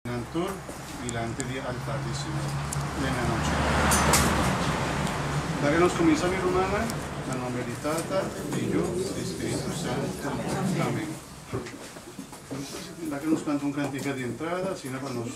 Nan tur dilanti di altar di Señor den anochi. Laga nos kuminsá mi rumannan, na nomber di Tata, di Yu, di Spiritu Santu. Amen. Laga nos kanta un kantika di entrada asina pa nos.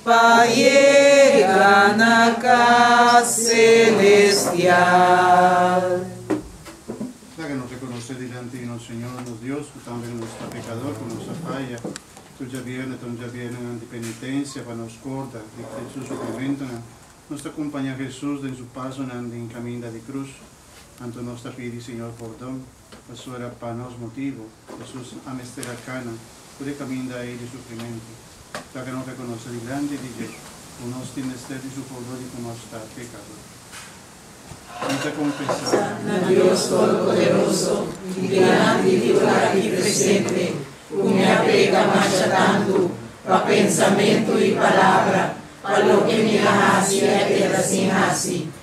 Pa yega na cas celestial. Ta que nos reconoce dilanti di nos Señor, nos Dios, cu tambe que nos ta pecador, cu nos a faya. Tur djabierne ta un djabiernennan di penitencia pa nos scorda di Cris su sufrimentonan. Nos ta cumpaña Jesus den su pasonan den caminda di cruz. Anto nos ta pidi Señor pordon. Pasobra pa nos motibu, Hesus a mester a kana tur e kaminda ei di sufrimentu. Taka no ta konosé dilanti di dje ku nos tin mester di sufó luego di ku nos ta pekadó? Mi ta konfesá. Na Dios Toropoderoso i dilanti di ora aki presente ku mi a peka masha tantu pa pensamentu i palabra, pa loke mi a hasi i a keda sin hasi.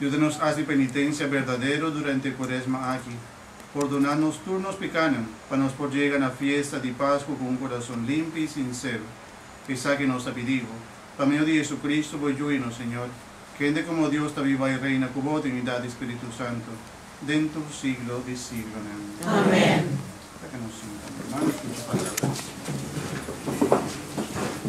Yuda nos hasi penitensia berdadero durante e Cuaresma aki, pordona nos tur nos pecanan, pa nos por yega na fiesta di Pascu cu un curason limpi y sincero. Esaki nos ta pidi bo, pa medio di Jesucristo, bo Yu y nos Señor, kende cu bo Dios ta biba y reina cu bo den unidad di Spiritu Santo, den tur siglo di siglonan. Amen. Ta cu nos sinta, mi hermano, escucha palabra di Señor.